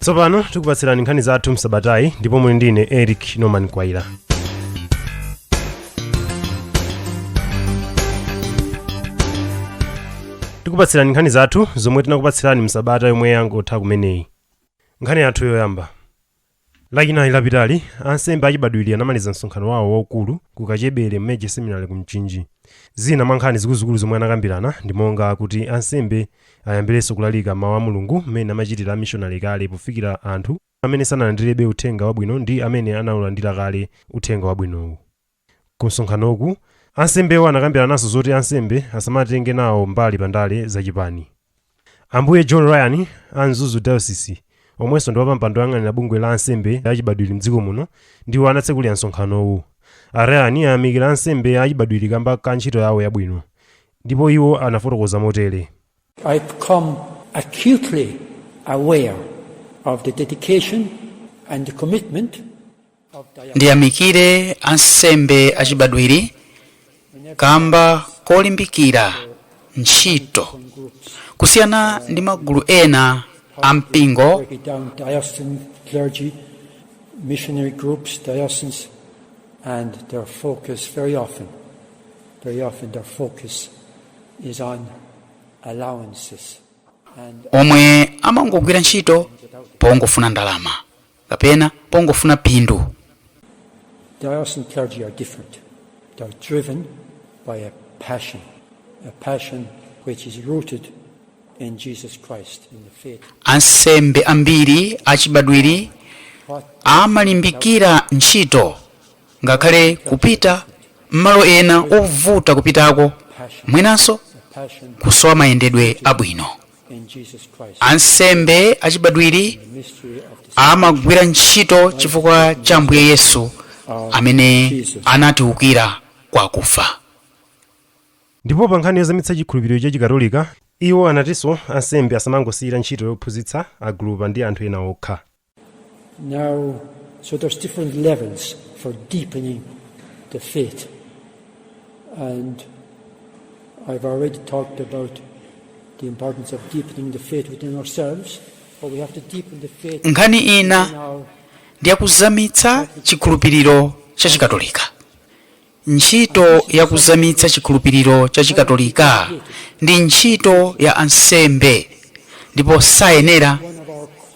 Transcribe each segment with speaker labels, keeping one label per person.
Speaker 1: tsopano tikupatsirani nkhani zathu msabatayi ndipo muli ndine eric norman kwaila tikupatsirani nkhani zathu zomwe tinakupatsirani msabata yomwe yangotha kumeneyi Nkhani yathu yoyamba. Lachinayi lapitali, ansembe achibadwiri anamaliza msonkhano wawo waukulu ku Kachebere Major Seminary ku Mchinji. Zina mwa nkhani zikuluzikulu zomwe anakambirana ndi monga kuti ansembe ayambirenso kulalika mawu a Mulungu mmene amachitira amishonale kale pofikira anthu amene sanalandirebe uthenga wabwino ndi amene anaulandira kale uthenga wabwinowu. Kumsonkhanoku, ansembewo anakambirananso zoti ansembe asamatenge nawo mbali pa ndale zachipani. Ambuye John Ryan a Mzuzu Diocese, omwenso ndi wapampando woyang'anira bungwe la ansembe achibadwiri m'dziko muno, ndiwo anatsekulira msonkhanowu. A Ryan ayamikira ansembe achibadwiri kamba ka ntchito yawo yabwino, ndipo iwo anafotokoza motere. I've become
Speaker 2: acutely aware of the dedication and the commitment of Diana. ndiyamikire
Speaker 3: ansembe achibadwiri kamba kolimbikira ntchito kusiyana ndi magulu ena a mpingo Break it down diocesan
Speaker 2: clergy, missionary groups, dioceses, and their focus very often, very often their focus omwe
Speaker 3: amangogwira ntchito pongofuna ndalama kapena pongofuna phindu
Speaker 2: Diocesan clergy are different. They're driven by a passion, a passion which is rooted in Jesus Christ, in the faith. ansembe
Speaker 3: ambiri achibadwiri amalimbikira ntchito Ngakhale kupita m'malo ena ovuta kupitako mwinanso kusowa mayendedwe abwino. Ansembe achibadwiri amagwira ntchito chifukwa cha Ambuye Yesu amene anatiukira kwa akufa.
Speaker 1: Ndipo pankhani yozamitsa chikhulupiriro chachikatolika, iwo anatinso ansembe asamangosiyira ntchito yophunzitsa agulupa ndi anthu ena okha. Now,
Speaker 2: so there's different levels for deepening the faith. And I've already talked about the importance of deepening the faith within ourselves, but we have to deepen the faith nkhani in ina
Speaker 3: our ndi yakuzamitsa chikhulupiriro cha chikatolika Ntchito ya kuzamitsa chikhulupiriro cha Chikatolika ndi ntchito ya ansembe ndipo sayenera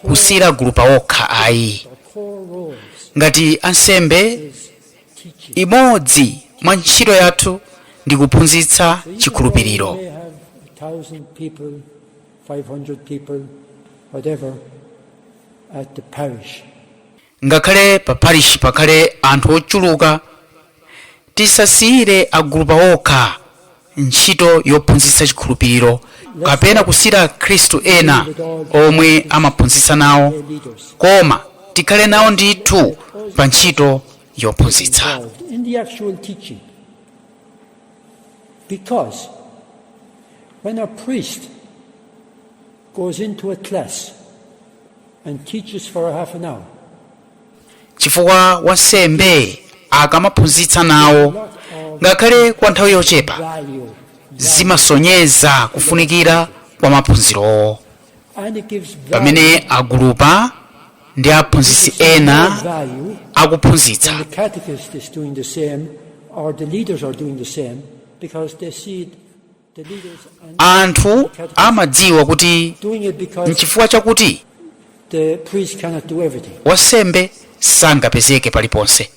Speaker 3: kusiyira agulupa okha ayi. Ngati ansembe, imodzi mwa ntchito yathu ndi kuphunzitsa chikhulupiriro. Ngakhale pa parish pakhale anthu ochuluka, tisasiyire agulupa okha ntchito yophunzitsa chikhulupiriro kapena kusiyira akhristu ena omwe amaphunzitsa nawo koma tikhale nawo ndithu pa ntchito yophunzitsa.
Speaker 2: goes into a class and teaches for half an hour,
Speaker 3: chifukwa wansembe akamaphunzitsa nawo ngakhale kwa nthawi yochepa value, zimasonyeza kufunikira kwa maphunzirowo and it gives value, pamene agulupa ndi aphunzitsi ena value akuphunzitsa when the catechist
Speaker 2: is doing the same or the leaders are doing the same because they see it The leaders are
Speaker 3: anthu amadziwa kuti doing it because
Speaker 2: nchifukwa
Speaker 3: chakuti
Speaker 2: the priest cannot do everything. wansembe
Speaker 3: sangapezeke paliponse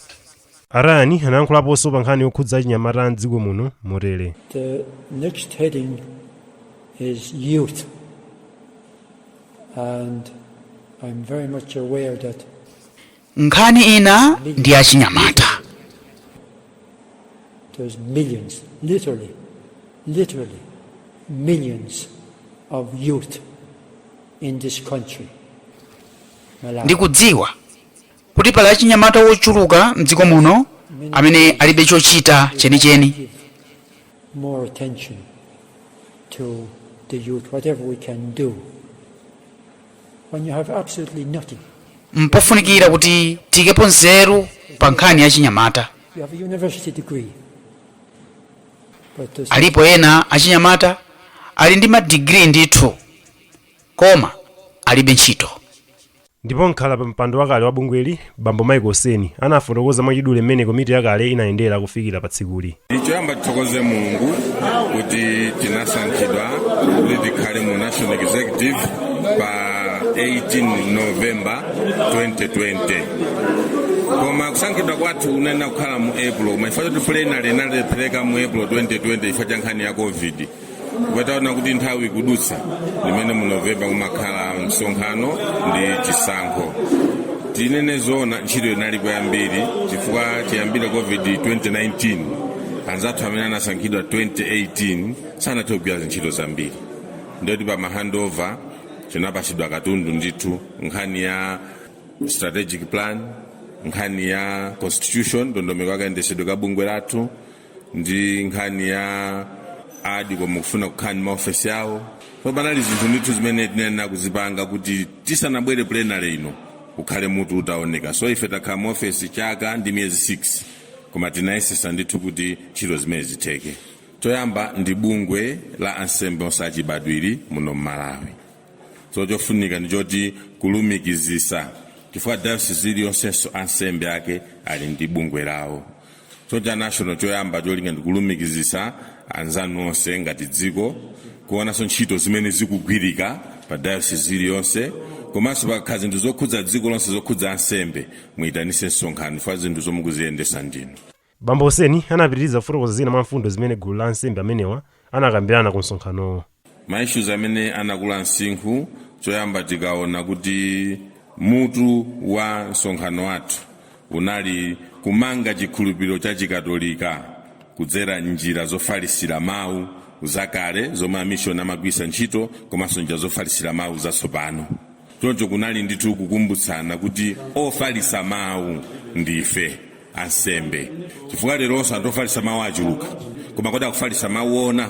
Speaker 3: atatero
Speaker 1: anayankhulaponso pa nkhani yokhudza achinyamata a mdziko muno motere The
Speaker 2: next heading is youth. And I'm very much aware that
Speaker 3: Nkhani ina ndi ya achinyamata.
Speaker 2: There's millions, literally, literally, millions of youth in this country. Malawi.
Speaker 3: Ndikudziwa kuti pali achinyamata wochuluka mdziko muno amene alibe chochita chenicheni. Give
Speaker 2: More attention to the youth, whatever we can do when you have absolutely nothing.
Speaker 3: mpofunikira kuti tiikepo nzeru pa nkhani ya achinyamata You have a university
Speaker 2: degree. But
Speaker 3: there's alipo ena achinyamata ali ndi madigiri ndithu koma alibe ntchito ndipo
Speaker 1: mkhala pa mpando wakale wa bungweli Bambo Michael Seni anafotokoza mwachidule mmene komiti yakale inayendetsera kufikira pa tsikuli. Choyamba
Speaker 4: tithokoze Mulungu kuti tinasankhidwa kuti tikhale mu National Executive pa 18 November 2020 koma kusankhidwa kwathu kunayenera kukhala mu April koma chifukwa choti plenary inalephereka mu April 2020 chifukwa cha nkhani ya covid titaona kuti nthawi ikudutsa limene mu novemba kumakhala msonkhano ndi chisankho tinene zoona ntchito inalipo yambiri chifukwa chiyambire covid 2019 anzathu amene anasankhidwa 2018 sanathe kugwira zintchito zambiri ndiye kuti pa mahandover tinapatsidwa katundu ndithu nkhani ya strategic plan nkhani ya constitution ndondomeko yakayendesedwe ka bungwe lathu ndi nkhani ya adi koma kufuna kukhala ndi maofesi awo so panali zinthu ndithu zimene tinayenera kuzipanga kuti tisanabwere plenary ino ukhale mutu utaoneka so ife takhala maofesi chaka ndi miyezi 6 koma tinayesesa ndithu kuti ntchito zimene zitheke choyamba ndi bungwe la ansembe onse achibadwiri muno mmalawi so chofunika ndi choti kulumikizisa chifukwa dayosisi iliyonsenso ansembe ake ali ndi bungwe lawo so cha national choyamba cholinga ndikulumikizisa anzanu onse ngati dziko kuonanso ntchito zimene zikugwirika pa dayosisi iliyonse komanso pakhala zinthu zokhudza dziko lonse zokhudza ansembe muyitanise msonkhano chifukwa zinthu zomwe mukuziyendesa ndinu bambo
Speaker 1: seni anapitiriza kufotokoza zina mwa mfundo zimene gulu la ansembe amenewa anakambirana ku msonkhanowo maissues amene
Speaker 4: anakula msinkhu choyamba tikaona kuti mutu wa msonkhano wathu unali kumanga chikhulupiriro cha chikatolika kudzera njira zofalisira mawu zakale zomwe amishoni amagwiritsa ntchito komanso njira zofalisira mawu zatsopano choncho kunali ndithu kukumbutsana kuti ofalitsa mawu ndife ansembe chifukwa leronso anthu ofalitsa mawu achuluka koma kodi akufalitsa mawu ona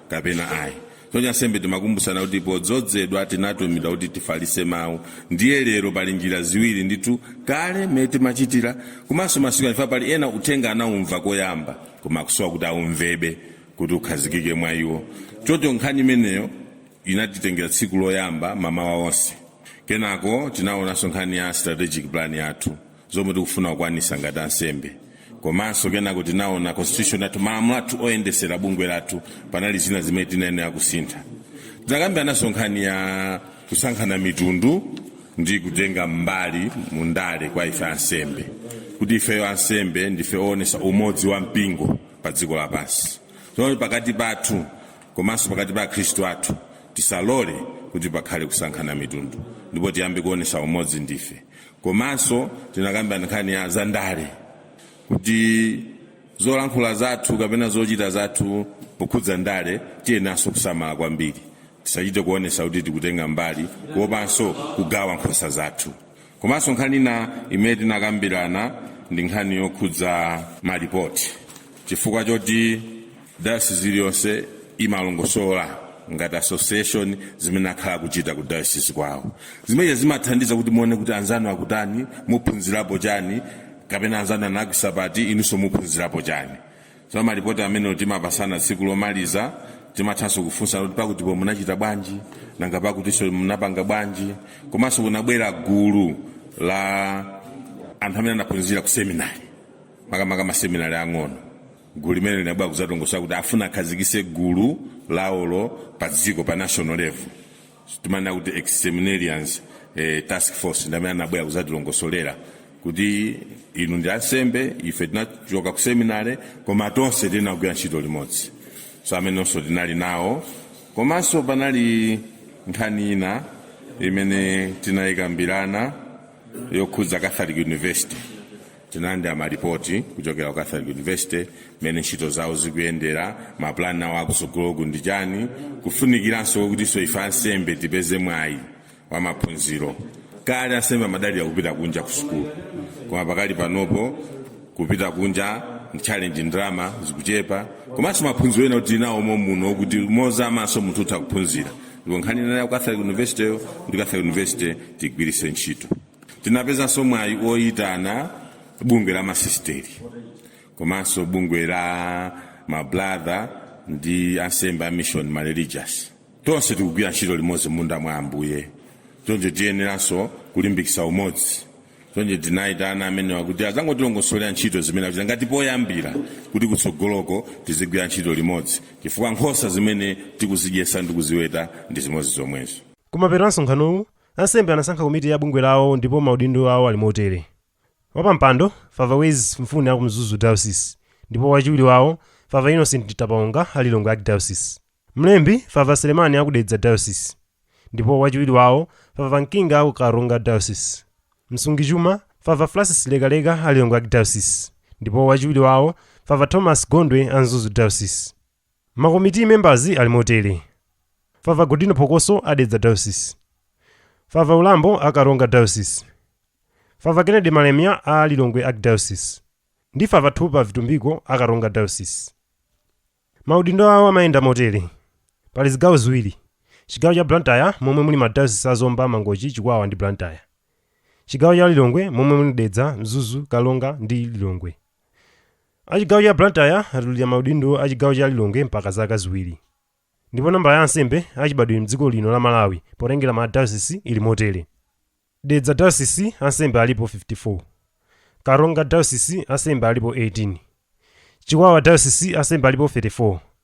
Speaker 4: kapena ayi choncho ansembe timakumbutsana kuti podzodzedwa tinatumidwa kuti tifalitse mawu ndiye lero pali njira ziwiri ndithu kale mmene timachitira komanso masiku ano chifukwa pali ena uthenga anaumva koyamba koma akusowa kuti aumvebe kuti ukhazikike mwa iwo choncho nkhani imeneyo inatitengera tsiku loyamba mamawa onse kenako tinaonanso nkhani ya strategic plan yathu zomwe tikufuna kukwanisa ngati ansembe komanso kenako tinaona constitution yathu malamulo athu oyendesera bungwe lathu panali zina zimene tinayenera kusintha tinakambirananso nkhani ya kusankhana mitundu ndi kutenga mbali mu ndale kwa ife ansembe kuti ifeyo ansembe ndife oonesa umodzi wa mpingo pa dziko lapansi so pakati pathu komanso pakati pa akhristu athu tisalole kuti pakhale kusankhana mitundu ndipo tiyambe kuonesa umodzi ndife komanso tinakambirana nkhani ya zandale kuti zolankhula zathu kapena zochita zathu pokhudza ndale tiyeneranso kusamala kwambiri tisachite kuonesa kuti tikutenga mbali kuopanso kugawa nkhosa zathu komanso nkhani ina imene tinakambirana ndi nkhani yokhudza malipoti chifukwa choti dayosisi iliyonse imalongosola ngati association zimene akhala akuchita ku dayosisi kwawo zimenezi zimathandiza kuti muone kuti anzanu akutani muphunzirapo chani kapena anzanu anagwisa pati inunso muphunzirapo chani so malipoti amene timapasana tsiku lomaliza timathanso kufunsa kuti pakutipo munachita bwanji nanga pakutiso munapanga bwanji komanso kunabwera gulu la anthu amene anaphunzira ku seminari makamaka maseminari ang'ono gulu limene linabwera kuzatongosola kuti afuna akhazikise gulu lawolo pa dziko pa national level timanena kuti ex-seminarians task force ndamene anabwera kuzatilongosolera kuti inu ndi ansembe ife tinachoka ku seminary koma tonse tili nkugwira ntchito limodzi so amenenso tinali nawo komanso panali nkhani ina imene tinayikambirana yokhudza catholic university tinalandira malipoti kuchokera ku catholic university mmene ntchito zawo zikuyendera mapulani awo akusogoloku ndi chani kufunikiranso kutinso ife ansembe tipeze mwayi wa maphunziro kale ansembe amadalira kupita kunja ku sukulu koma pakali panopo kupita kunja ndi challenge ndalama zikuchepa komanso maphunziro ena tili nawo momuno kuti mozamanso munthu utha kuphunzira ndipo nkhani ya catholic university yo kuti catholic university tigwiritse ntchito tinapezanso mwayi woyitana bungwe la masisiteri komanso bungwe la mabrother ndi ansembe a mission mareligious tonse tikugwira ntchito limodzi mmunda mwa ambuye choncho tiyeneranso kulimbikitsa umodzi choncho tinayitana amenewa kuti azangotilongosolera ntchito zimene akuchita ngati poyambira kuti kutsogoloko tizigwira ntchito limodzi chifukwa nkhosa zimene tikuzidyesa ndi kuziweta ndi zimodzi zomwezo kumapeto a msonkhanowu
Speaker 1: Ansembe anasankha komiti ya bungwe lawo ndipo maudindo awo ali motere, Wapampando, Father Wez Mfune aku Mzuzu Diocese ndipo wachiwiri wawo Father Innocent Mtapaonga a Lilongwe Archdiocese. Mlembi, Father Selemani aku Dedza Diocese ndipo wachiwiri wawo Father Mkinga aku Karonga Diocese. Msungichuma, Father Francis Lekaleka a Lilongwe Archdiocese ndipo wachiwiri wawo Father Thomas Gondwe a Mzuzu Diocese. Ma committee members ali motere, Fr Godino Phokoso a Dedza Diocese, Fr Ulambo a Karonga Diocese, Fr Kennedy Malemia a Lilongwe Archdiocese ndi Fr Thupa Vitumbiko a Karonga Diocese. Maudindo awo amayenda motere, Pali zigawo ziwiri, chigawo cha Blantyre momwe muli ma diocese a Zomba, Mangochi, Chikwawa ndi Blantyre. Chigawo cha Lilongwe momwe muli Dedza, Mzuzu, Karonga ndi Lilongwe. a chigawo cha blantyre atulira maudindo a chigawo cha lilongwe mpaka zaka ziwiri ndipo nambala ya ansembe achibadwire mdziko lino la malawi potengera ma dayosisi ili motere dedza dayosisi ansembe alipo 54 karonga dayosisi ansembe alipo 18 chikwawa dayosisi ansembe alipo 34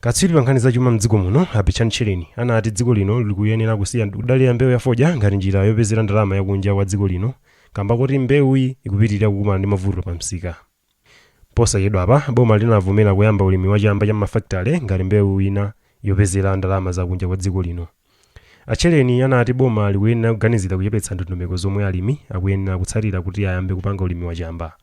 Speaker 1: Katswiri pa nkhani za chuma m'dziko muno, a Betchani Tchereni, anati dziko lino likuyenera kusiya kudalira mbewu ya fodya ngati njira yopezera ndalama ya kunja kwa dziko lino kamba koti mbewuyi ikupitilira kukumana ndi mavuto pa msika. Posachedwapa, boma linavomera kuyamba ulimi wa chamba cha m'mafakitale ngati mbewu ina yopezera ndalama za kunja kwa dziko lino. A Tchereni anati boma likuyenera kuganizira kuchepetsa ndondomeko zomwe alimi akuyenera kutsatira kuti ayambe kupanga ulimi wa chamba.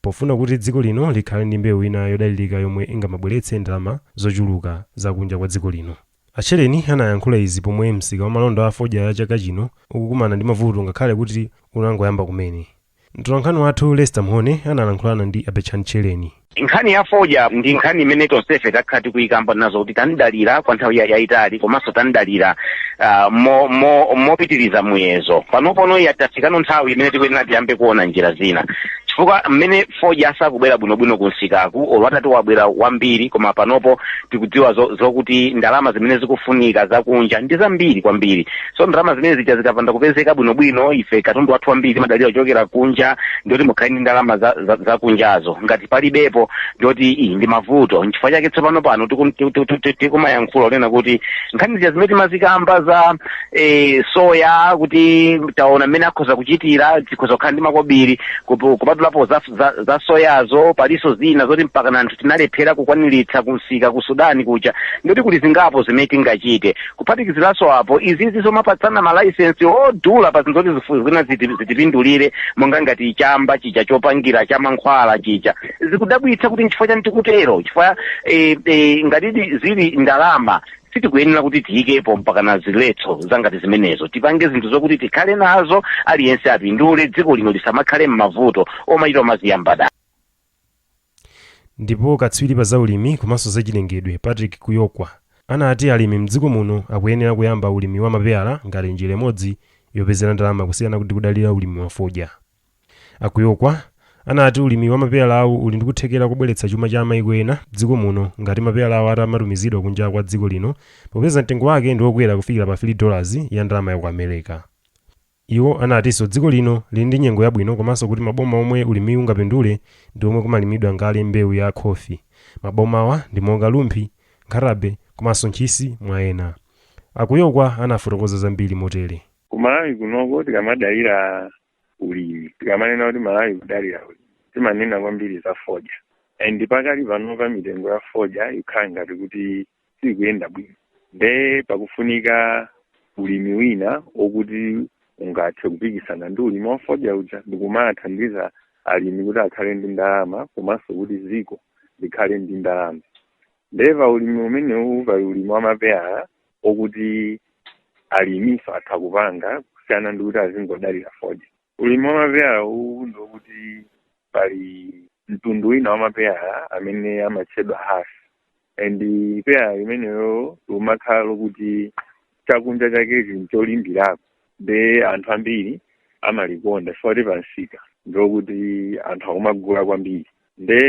Speaker 1: Pofuna kuti dziko lino likhale ndi mbewu ina yodalirika yomwe ingamabweretse ndalama zochuluka za kunja kwa dziko lino. A Tchereni anayankhula izi pomwe msika wa malonda a fodya a chaka chino ukukumana ndi mavuto ngakhale kuti unangoyamba kumene. Mtolankhani wathu Lester Mhone analankhulana ndi a Betchani Tchereni. Nkhani ya
Speaker 5: fodya ndi nkhani imene tonsefe takhala tikuyikamba nazo kuti tanidalira kwa nthawi ya- yayitali komanso tanidalira ah, mo- mo- mopitiriza muyezo panopono ya- tafikano nthawi imene tikuyenera tiyambe kuona njira zina chifukwa mmene fodya asakubwera bwinobwino ku msikaku olo atati wabwera wambiri koma panopo tikudziwa zo- zokuti ndalama zimene zikufunika zakunja ndi zambiri kwambiri so ndalama zimene zija zikapanda kupezeka bwinobwino ife katundu wathu wambiri timadalira kuchokera kunja ndiyoti mukhale ndi ndalama za- za- zakunjazo ngati palibepo ndiyoti iyi ndi mavuto nchifukwa chake tsopano pano tiku- tiku- tiku- tiku- tikumayankhula kunena kuti nkhani zija zimene timazikamba za e, soya kuti taona mmene akhoza kuchitira tikhoza kukhala ndi makobiri kupu- kupatulapo za, za, za soyazo palinso zina zoti mpaka na anthu tinalephera kukwaniritsa kumsika ku sudani kuja ndiyoti kuli zingapo zimene tingachite kuphatikiziranso apo izizi zomapatsana malaisensi odula pa zinthu zoti zifu- zina ziti- zitipindulire monga ngati chamba chija chopangira cha mankhwala chija zikudabwitsa kuti nchifukwa chani tikutero chifukwa e, e, ngatidi zili ndalama sitikuyenera kuti tiyikepo mpaka na ziletso zangati zimenezo tipange zinthu zokuti tikhale nazo aliyense apindule dziko lino lisamakhale m'mavuto omachita omaziyamba
Speaker 1: dala ndipo katswiri pa zaulimi komanso zachilengedwe patrick kuyokwa anati alimi mdziko muno akuyenera kuyamba ulimi wa mapeyala ngati njira imodzi yopezera ndalama kusiyana ndi kudalira ulimi wa fodya A Kuyokwa anati ulimi wa mapeyalawu uli ndi kuthekera kobweretsa chuma cha maiko ena m'dziko muno ngati mapeyalawa atamatumizidwa kunja kwa dziko lino popeza mtengo wake ndi okwera kufikira pa 3 dollars ya ndalama ya ku Amereka. Iwo anatinso dziko lino lili ndi nyengo yabwino komanso kuti maboma omwe ulimiwu ungapindule ndi omwe kumalimidwa kale mbewu ya khofi. Mabomawa ndi monga Rumphi, Nkhatabay komanso Ntchisi mwa ena. A Kuyokwa anafotokoza zambiri motere. ku malawi
Speaker 6: kunoko tikamadalira ulimi tikamanena kuti malawi kudalira ulimi timanena kwambiri za fodya and pakali panopa mitengo ya fodya ikhala ngati kuti sikuyenda bwino nde pakufunika ulimi wina okuti ungathe kupikisana ndi ulimi wa fodya uja ndikumathandiza alimi kuti akhale ndi ndalama komanso kuti dziko likhale ndi ndalama nde pa ulimi umenewu pali ulimi wa mapeyala okuti alimiso atha kupanga kusiyana ndi kuti azingodalira fodya ulimi wa mapeyala uwu ndi okuti pali mtundu wina wa mapeyala amene amatchedwa hass and peyala limenelo limakhala lokuti chakunja chakechi ncholimbirako nde anthu ambiri amalikonda chifukwa kuti pansika ndilokuti anthu akumagula kwambiri nde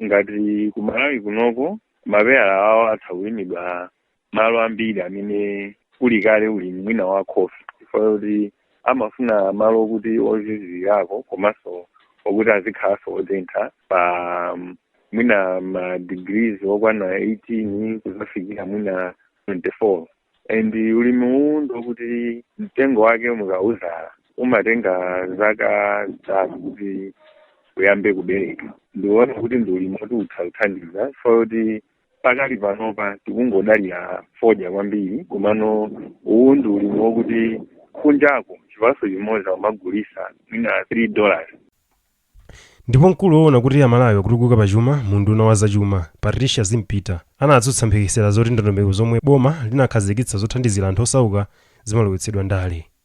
Speaker 6: ngati kumalawi kunoko mapeyala awo atha kulimidwa malo ambiri amene kuli kale ulimi mwina wa khofi chifukwa choti amafuna malo okuti ozizirako komanso okuti azikhalanso otentha pa um, mwina ma degrees okwana 18 kuzafikira mwina 24 and ulimi uwu ndokuti mtengo wake mukawuzala umatenga zaka zitatu kuti uyambe kubereka ndiona kuti ndi ulimi woti utha kuthandiza chifukwa choti pakali panopa tikungodalira fodya kwambiri komano uwu ndi ulimi wokuti kunjako chipaso chimodzi amagulisa mwina 3 dollars
Speaker 1: ndipo mkulu woona kuti amalawi akutukuka pa chuma mu unduna wa zachuma patricia zimpita anatsutsa mphekesera zoti ndondomeko zomwe boma linakhazikitsa zothandizira anthu osauka zimalowetsedwa ndale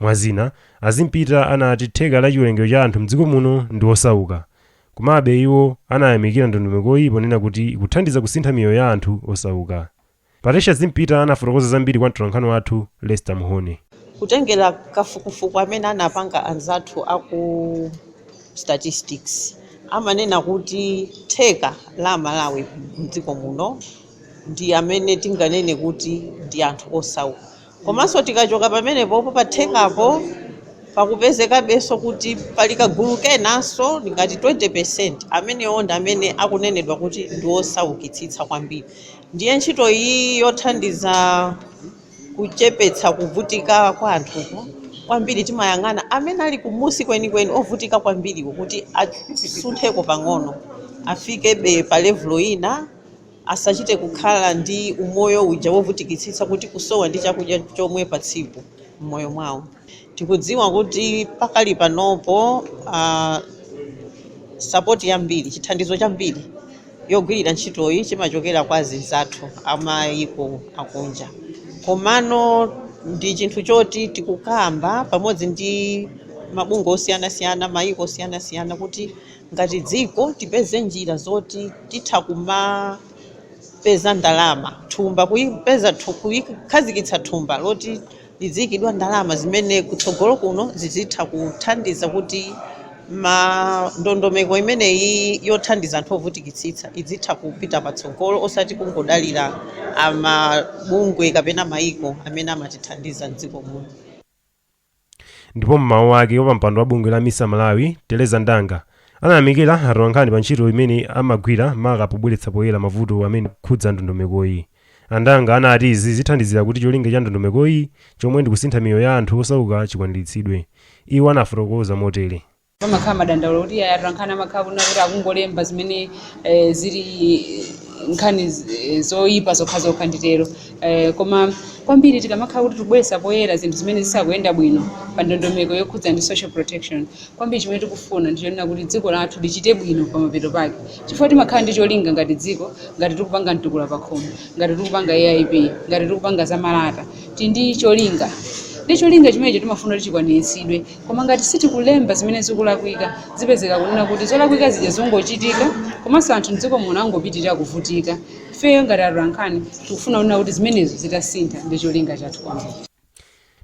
Speaker 1: Mwa zina, a Zimpita anati theka la chiwerengero cha anthu m'dziko muno ndi osauka. Komabe, iwo anayamikira ndondomekoyi ponena kuti ikuthandiza kusintha miyoyo ya anthu osauka. Patricia Zimpita anafotokoza zambiri kwa mtolankhani wathu Lester Muhone. Kutengera
Speaker 7: kafukufuku amene anapanga anzathu a ku Statistics, amanena kuti theka la Amalawi m'dziko muno ndi amene tinganene kuti ndi anthu osauka. Komanso tikachoka pamenepopo pa thekapo pakupezekabenso kuti pali kagulu kenanso ngati 20%, amenewo ndi amene akunenedwa kuti ndi osaukitsitsa kwambiri. Ndiye ntchito iyi yothandiza kuchepetsa kuvutika kwa anthuku, kwambiri timayang'ana amene ali kumunsi kwenikweni, ovutika kwambiriwo kuti asuntheko pang'ono, afikebe pa levulo ina. Asachite kukhala ndi umoyo uja wovutikitsitsa kuti kusowa ndi chakudya chomwe pa tsiku m'moyo mwawo. Tikudziwa kuti pakali panopo sapoti yambiri, chithandizo chambiri yogwirira ntchitoyi chimachokera kwa azinzathu a mayiko akunja komano ndi chinthu choti tikukamba pamodzi ndi mabungwe osiyanasiyana, mayiko osiyanasiyana kuti. Ngati dziko tipeze njira zoti titha kumapeza ndalama thumba kupeza kuikhazikitsa thumba loti liziikidwa ndalama zimene kutsogolo kuno zizitha kuthandiza kuti ma ndondomeko imeneyi yothandiza anthu ovutikitsitsa izitha kupita patsogolo osati kungodalira amabungwe kapena maiko amene amatithandiza m'dziko muno.
Speaker 1: Ndipo m'mawu ake, wapampando wa bungwe la Misa Malawi, Tereza Ndanga, anayamikira atolankhani pa ntchito imene amagwira maka pobweretsa poyera mavuto amene akukhudza ndondomekoyi. A Ndanga anati izi zithandizira kuti cholinga cha ndondomekoyi chomwe ndi kusintha miyoyo ya anthu osauka chikwaniritsidwe. Iwo anafotokoza motere. pamakhala
Speaker 8: madandaulo kuti iyayi atolankhani amakhala kunena kuti akungolemba zimene eh, zili eh, nkhani z- eh, zoyipa zokhazokha nditero eh, koma kwambiri tikamakhala kuti tikubweretsa poyera zinthu zimene zisakuyenda bwino pa ndondomeko yokhudza ndi social protection kwambiri chimene tikufuna ndichonena kuti dziko lathu lichite bwino pamapeto pake chifukwa timakhala ndi cholinga ngati dziko ngati tikupanga mtukula pakhomo ngati tikupanga AIP ngati tikupanga zamalata tili ndi cholinga ndiye cholinga chimenecho timafuna kuti chikwaniritsidwe Koma ngati sitikulemba zimene zikulakwika, zipezeka kunena kuti zolakwika zija zingochitika komanso anthu mdziko muno angopitirira kuvutika. Ifeyo ngati atolankhani tikufuna kunena kuti zimenezo zitasintha nde cholinga chathu kwambiri.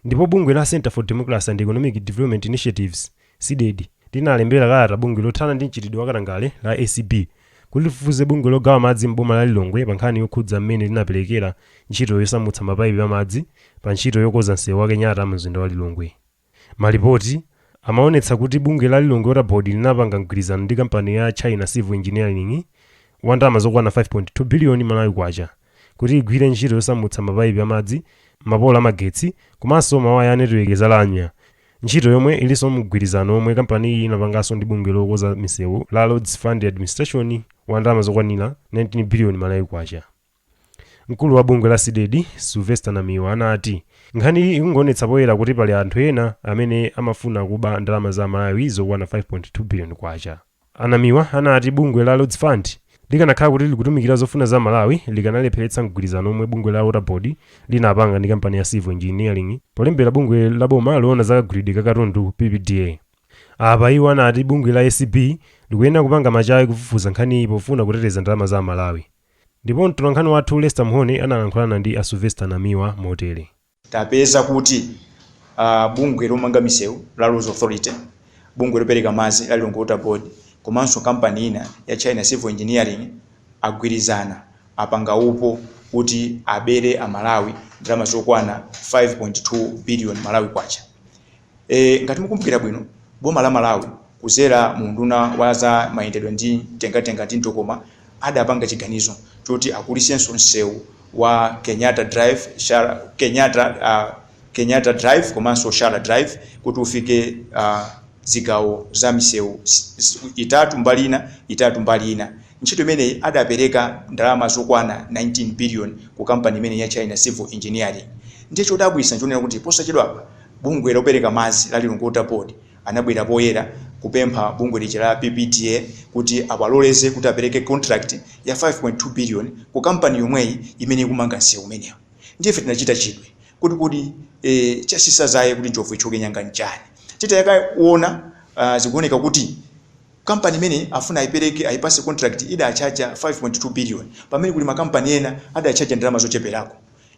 Speaker 8: Ndipo
Speaker 1: bungwe la Centre for Democracy and Economic Development Initiatives, Cdedi, linalembera kalata bungwe lothana ndi mchitidwe wa katangale la ACB kuti lifufuze bungwe logawa madzi m'boma la Lilongwe pa nkhani yokhudza mmene linaperekera ntchito yosamutsa mapaipi a madzi pa ntchito yokoza nsewu wa Kenyatta mumzinda wa Lilongwe. Malipoti amawonetsa kuti bungwe la Lilongwe Water Board linapanga mgwirizano ndi kampani ya China Civil Engineering wa ndalama zokwana 5.2 biliyoni Malawi Kwacha kuti igwire ntchito yosamutsa mapaipi amadzi, mapolo amagetsi komanso mawaya a netiweki za lamya, ntchito yomwe ilinso mumgwirizano womwe kampaniyi inapanganso ndi bungwe lokonza misewu la Roads Fund Administration wa ndalama zokwanira 19 biliyoni Malawi Kwacha. Mkulu wa bungwe la Cdedi, Sylvester Namiwa anati, Nkhaniyi ikungoonetsa poyera kuti pali anthu ena amene amafuna kuba ndalama za Amalawi zokwana K5.2 biliyoni. A Namiwa anati bungwe la Roads Fund likanakhala kuti likutumikira zofuna za Amalawi likanalepheretsa mgwirizano omwe bungwe la Water Board linapanga ndi kampani ya Civil Engineering polembera bungwe la boma loona za kagulidwe ka katundu, PPDA. Apa iwo anati bungwe la ACB likuyenera kupanga machawi kufufuza nkhaniyi pofuna kuteteza ndalama za Amalawi. Ndipo mtolankhani wathu Lester Mhone analankhulana ndi a Sylvester Namiwa motere. tapeza
Speaker 9: kuti bungwe lomanga misewu la Roads Authority, bungwe lopereka madzi la Lilongwe Water Board komanso kampani ina ya China Civil Engineering agwirizana, apanga upo kuti abere a Malawi ndalama zokwana 5.2 biliyoni Malawi Kwacha. E, ngati mukumbukira bwino, boma la Malawi kuzera mu unduna wa za mayendedwe ndi mtengatenga ndi mtokoma adapanga chiganizo choti akulisenso msewu wa Kenyatta Drive, Shara, Kenyatta, uh, Kenyatta Drive komanso Shara Drive kuti ufike uh, zigawo za misewu itatu mbali ina itatu mbali ina ntchito imeneyi adapereka ndalama zokwana 19 billion ku kampani imeneyi ya China Civil Engineering ndiye chodabwisa nchonena kuti posachedwapa bungwe lopereka madzi la Lilongwe Water Board anabwera poyera kupempha bungwe lija la PPDA kuti awaloleze kuti apereke contract ya 5.2 billion ku kampani yomweyi imene ikumanga msewu umenewu. Ndiye ife tinachita chidwi kuti kodi eh, chasisa dzaye kuti njovu ithyoke nyanga nchani. Titayakaona uh, zikuoneka kuti kampani imene afuna ayipereke ayipase contract idachaja 5.2 billion pamene kuli makampani ena adachaja ndalama zocheperako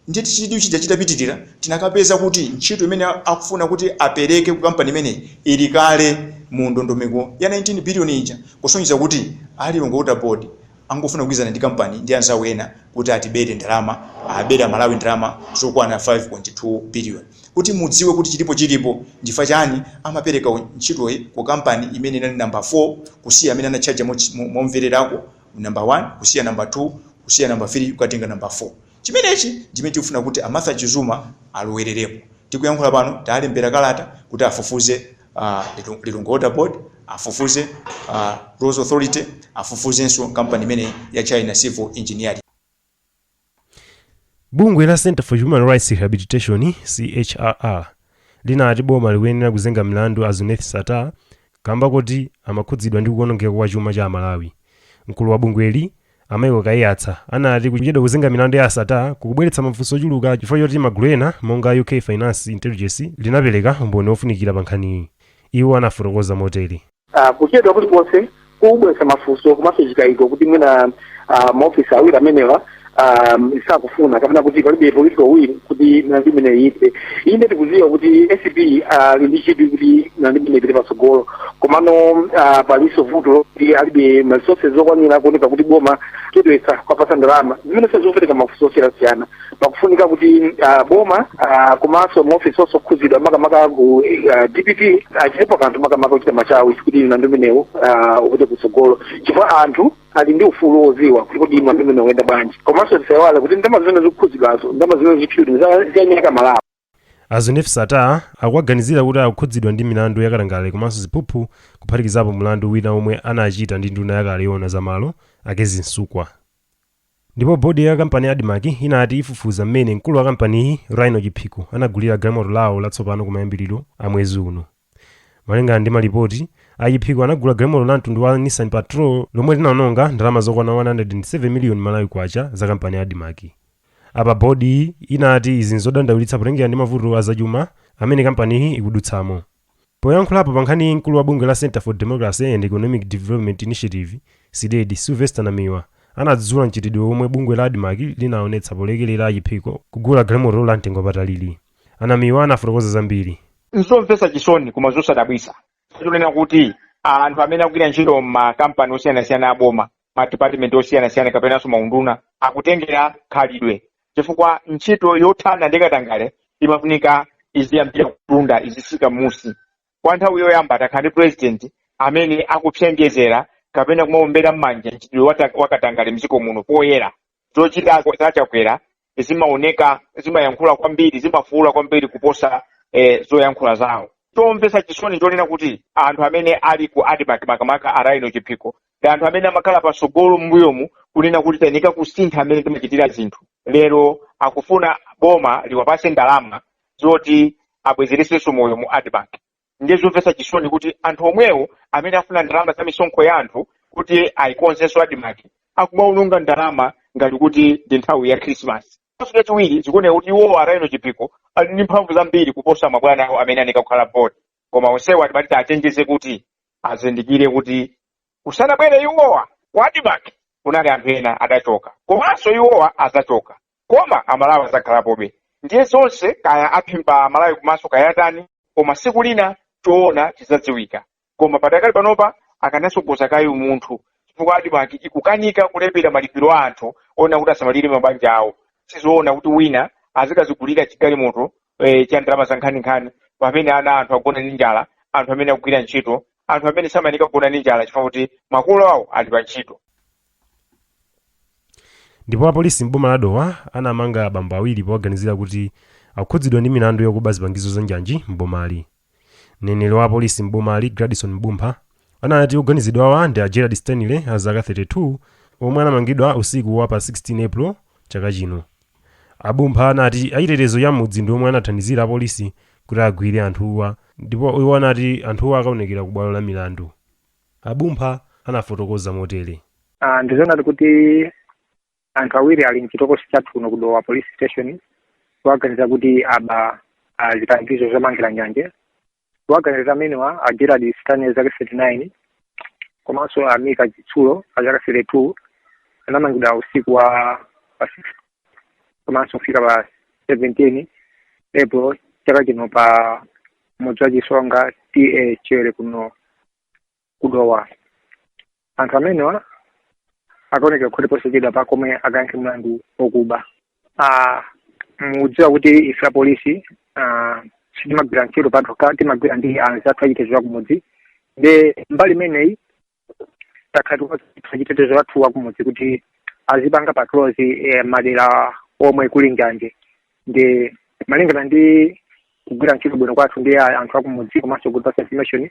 Speaker 9: Ndiye chidwi chija chitapitirira, tinakapeza kuti ntchito imene akufuna kuti apereke ku kampani imeneyi ili kale mu ndondomeko ya 19 billion ija, kusonyeza kuti a Lilongwe Water Board angofuna kugwirizana ndi kampani ndi anzawo ena kuti atibere ndalama, abere Amalawi ndalama zokwana 5.2 billion. Kuti mudziwe kuti chilipo chilipo, n'chifukwa chiyani amapereka ntchitoyi ku kampani imene inali number 4 kusiya amene anatchaja momvererako, number 1 kusiya number 2 kusiya number 3 kukatenga number 4. Chimenechi ndi chimene tikufuna kuti a Martha Chizuma alowererepo. Tikuyankhula pano taalembera kalata kuti afufuze a Lilongwe Water Board, afufuze a Roads Authority, afufuzenso kampani imeneyi ya China Civil Engineering.
Speaker 1: Bungwe la Centre for Human Rights Rehabilitation, CHRR, linati boma likuyenera kuzenga mlandu a Zuneth Sattar kamba koti amakhudzidwa ndi kuonongeka kwa chuma cha Amalawi. Mkulu wa bungweli, A Michael Kaiyatsa anati kuchedwa kuzenga milandu ya a Sattar kukubweretsa mafunso ochuluka chifukwa choti magulu ena monga UK Finance Intelligence linapereka umboni wofunikira pa nkhaniyi. Iwo anafotokoza motere. Kuchedwa
Speaker 10: kulikonse kukubweretsa mafunso komanso chikayiko kuti mwina maofisi awiri amenewa sakufuna kapena kuti palibe political will kuti milandu imeneyi ithe. inde tikuziwa kuti acb ali ndi chidwi kuti mlandu umenewu upite patsogolo komano ah, palinso vuto kuti alibe ma resources okwanira kuoneka kuti boma chedwetsa kwapasa ndalama zimene zikupereka mafunso osiyanasiyana pakufunika kuti ah, boma ah, komanso maofisi onse okhudzidwa makamaka ku ah, dpp achitepo kanthu makamaka kuchita machawi kuti mlandu umenewu upite kutsogolo chifukwa anthu ali ndi ufulu woziwa kuti kodi milandu imeneyi ikuyenda bwanji komanso tisaiwale kuti ndalama zimene zikukhudzidwazo ndalama zimene zipyuti zanyeka malawi a Zuneth
Speaker 1: Sattar akuwaganizira kuti akukhudzidwa ndi milandu yakatangale komanso ziphuphu kuphatikizapo mlandu wina omwe anachita ndi nduna yakale yoona za malo a Kezzie Msukwa ndipo bodi ya kampani ya admarc inati ifufuza mmene mkulu wa kampaniyi rhino chiphiko anagulira galimoto lawo latsopano kumayambiriro a mwezi uno Malingana ndi malipoti, a Chiphiko anagula galimoto la mtundu wa Nissan Patrol lomwe linaononga ndalama zokwana 107 miliyoni Malawi Kwacha za kampani ya Admarc. Apa bhodiyi inati izi nzodandaulitsa potengera ndi mavuto a zachuma amene kampaniyi ikudutsamo. Poyankhulapo pa nkhaniyi mkulu wa bungwe la Centre for Democracy and Economic Development Initiative, Cdedi, Sylvester Namiwa anadzudzula mchitidwe omwe bungwe la Admarc linaonetsa polekelera a Chiphiko kugula galimoto la mtengo wapatalili. A Namiwa anafotokoza zambiri. N'zomvetsa
Speaker 11: chisoni koma zosadabwitsa kunena kuti anthu amene akugwira ntchito m'makampani osiyanasiyana a boma madipatimenti osiyanasiyana kapenanso maunduna akutengera khalidwe chifukwa ntchito yothana ndi katangale imafunika iziyambira kutunda izisika m'munsi kwa nthawi yoyamba takhala ndi purezidenti amene akupsengezera kapena kumaombera m'manja mchitidwe wa katangale mdziko muno poyera zochita za a Chakwera zimaoneka zimayankhula kwambiri zimafuula kwambiri kuposa eh, zoyankhula zawo chomvetsa chisoni chonena kuti anthu amene ali ku admarc makamaka a Rhino chiphiko ndi anthu amene amakhala patsogolo m'mbuyomu kunena kuti tayenika kusintha mmene timachitira zinthu lero akufuna boma liwapase ndalama zoti abwezeresenso moyo mu admarc ndiye zomvetsa chisoni kuti anthu omwewo amene afuna ndalama za misonkho ya anthu kuti ayikonzenso admarc akumaononga ndalama ngati kuti ndi nthawi ya khrisimasi komanso chachiwiri zikuoneka kuti iwo a Rhino Chiphiko ali ndi mphamvu zambiri kuposa mabwana awo amene ayenika kukhala board koma onsewo timati tiwachenjeze kuti azindikire kuti kusanabwere iwowa ku admarc kunali anthu ena adachoka komanso iwowa azachoka koma amalawi azakhalapobe ndiye zonse kaya aphimba amalawi kumaso kaya atani koma siku lina choona chizadziwika koma padakali panopa akanasogoza kaye umunthu chifukwa admarc ikukanika kulipira malipiro a anthu ena kuti asamalire mabanja awo sizoona kuti wina azikazigulira chigalimoto eh, cha ndalama za nkhaninkhani pamene ana a anthu agona ndi njala anthu amene akugwira ntchito anthu amene samayenika kugona ndi njala chifukwa kuti makolo awo ali pa ntchito
Speaker 1: ndipo apolisi m'boma la dowa anamanga abambo awiri powaganizira kuti akukhudzidwa ndi milandu yokuba zipangizo za njanji m'bomali Mneneri wa apolisi m'bomali, Gladson M'bumpha, anati oganizidwawa ndi a Gerald Stanley a zaka 32 omwe anamangidwa usiku wa pa 16 April chaka chino. A Bumpha anati achitetezo cha m'mudzi ndi omwe anathandizira apolisi kuti agwire anthuwa ndipo iwo anati anthuwa akaonekera ku bwalo la milandu. A Bumpha anafotokoza motere. Ndizoonadi
Speaker 12: kuti anthu awiri ali mchitokosi chathu kuno ku Dowa police station powaganizira kuti aba ah, zipangizo zomangira njanje owaganizira amenewa a Gerald Stanley zaka 39 komanso a Mika Chitsulo a zaka 32 anamangidwa usiku wa pa 16 komanso kufika pa 17 April chaka chino pa mudzi wa Chisonga TA Chiwere kuno ku Dowa anthu amenewa akaonekera ku khoti posachedwapa komwe akayankhe mlandu okuba Ah, mukudziwa kuti ife apolisi ah, sitimagwira ntchito patokha timagwira ndi anzathu achitetezo akumudzi nde mbali imeneyi takhala achitetezo athu akumudzi kuti azipanga patrols eh, m'madera omwe kuli njanje nde malingana ndi kugwira ntchito bwino kwathu ndi a- anthu akumudzi komanso good pass information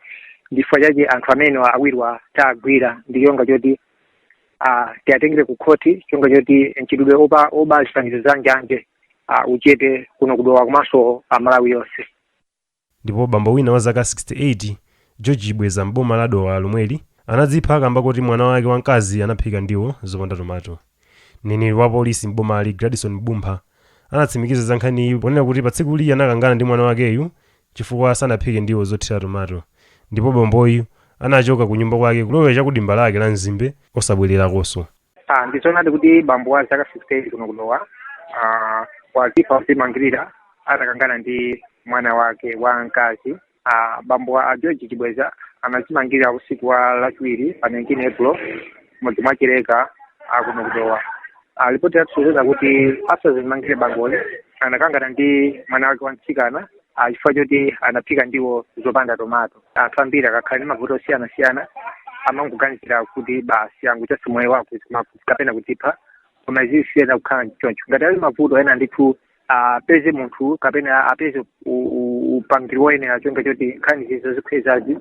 Speaker 12: ndifukwa chake anthu amene awiriwa tagwira ndi cholinga choti ah, tiwatengere ku khoti cholinga choti mchitidwe oba oba zipangizo za njanje ah, uchepe kuno ku Dowa komanso Malawi yonse
Speaker 1: Ndipo bambo wina wa zaka 68, George Chibweza m'boma la Dowa lomweli, anadzipha kamba kuti mwana wake wa mkazi anaphika ndiwo zopanda tomato. Mneneri wa polisi m'bomali, Gladson M'bumpha, anatsimikiza za nkhaniyi ponena kuti patsikuli anakangana ndi mwana wakeyu chifukwa sanaphike ndiwo zothira tomato ndipo bamboyu anachoka kunyumba kwake kulowera cha ku dimba lake la mzimbe osabwererakonso. Ah,
Speaker 12: ndizoonadi kuti bambo wa zaka 68 kuno ku Dowa ah, wazipha pozimangirira atakangana ndi mwana wake wa mkazi ah, bambowa a George Chibweza anazimangirira usiku wa lachiwiri pa 19 April m'mudzi mwa Chileka ah, kuno ku Dowa ah, lipoti latisonyeza kuti asanazimangirire bamboyu anakangana ndi mwana wake wa mtsikana ah, chifukwa choti anaphika ndiwo zopanda tomato anthu ambiri akakhala ndi mavuto osiyanasiyana amangoganizira kuti basi angochotsa moyo wawo kapena kuzipha koma izi siziyenera kukhala choncho ngati ali mavuto ena ndithu apeze munthu kapena apeze upangiri woyenera cholinga choti nkhani zozikhwezazi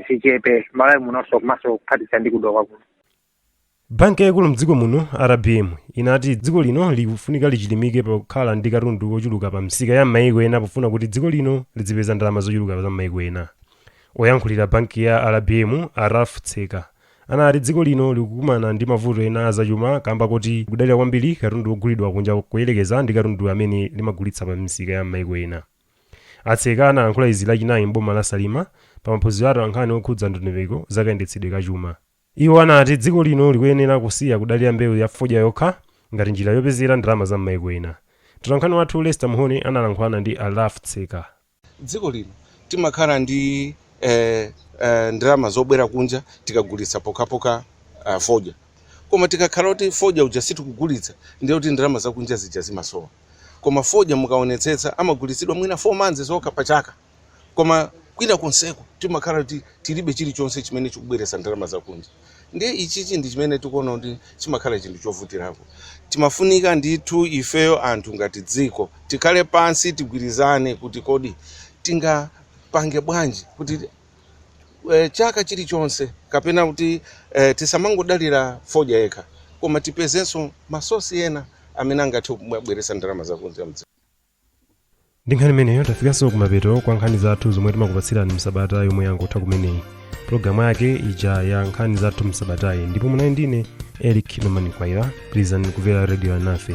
Speaker 12: zichepe m'Malawi muno komanso kuphatikiza ndi ku Dowa kuno
Speaker 1: Banki yaikulu m'dziko muno, RBM, inati dziko lino likufunika lichilimike pa kukhala ndi katundu wochuluka pa misika ya m'maiko ena pofuna kuti dziko lino lidzipeza ndalama zochuluka za m'maiko ena. Oyankhulira banki ya RBM, a Ralph Tseka, anati dziko lino likukumana ndi mavuto ena a zachuma kamba koti kudalira kwambiri katundu wogulidwa kunja kuyerekeza ndi katundu amene limagulitsa pa misika ya m'maiko ena. A Tseka analankhula izi Lachinayi m'boma la Salima pa maphunziro a atolankhani okhudza ndondomeko za kayendetsedwe ka chuma. Iwo anati dziko lino likuyenera kusiya kudalira mbewu ya fodya yokha ngati njira yopezera ndalama za m'maiko ena. Mtolankhani wathu Lester Mhone analankhulana ndi a Ralph Tseka. Dziko lino
Speaker 13: timakhala ndi ndalama zobwera kunja tikagulitsa pokhapokha fodya. Koma tikakhala kuti fodya uja sitikugulitsa ndiye kuti ndalama zakunja zija zimasowa. Koma fodya mukaonetsetsa amagulitsidwa mwina 4 months zokha pa chaka. koma kwina konseko timakhala kuti tilibe chilichonse chimene chikubweretsa ndalama zakunja ndiye ichichi ndi chimene tikuona kuti chimakhala chinthu chovutirapo timafunika ndithu ifeyo anthu ngati dziko tikhale pansi tigwirizane kuti kodi tingapange bwanji kuti eh, chaka chilichonse kapena kuti eh, tisamangodalira fodya yekha koma tipezenso masosi ena amene angathe kubweretsa ndalama zakunja
Speaker 1: ndi nkhani imeneyo tafikanso kumapeto kwa nkhani zathu zomwe timakupatsirani msabata yomwe yangotha kumeneyi pulogalamu yake ija ya nkhani zathu msabatayi ndipo munali ndine eric norman mkwaira pitirizani kumvera redio alinafe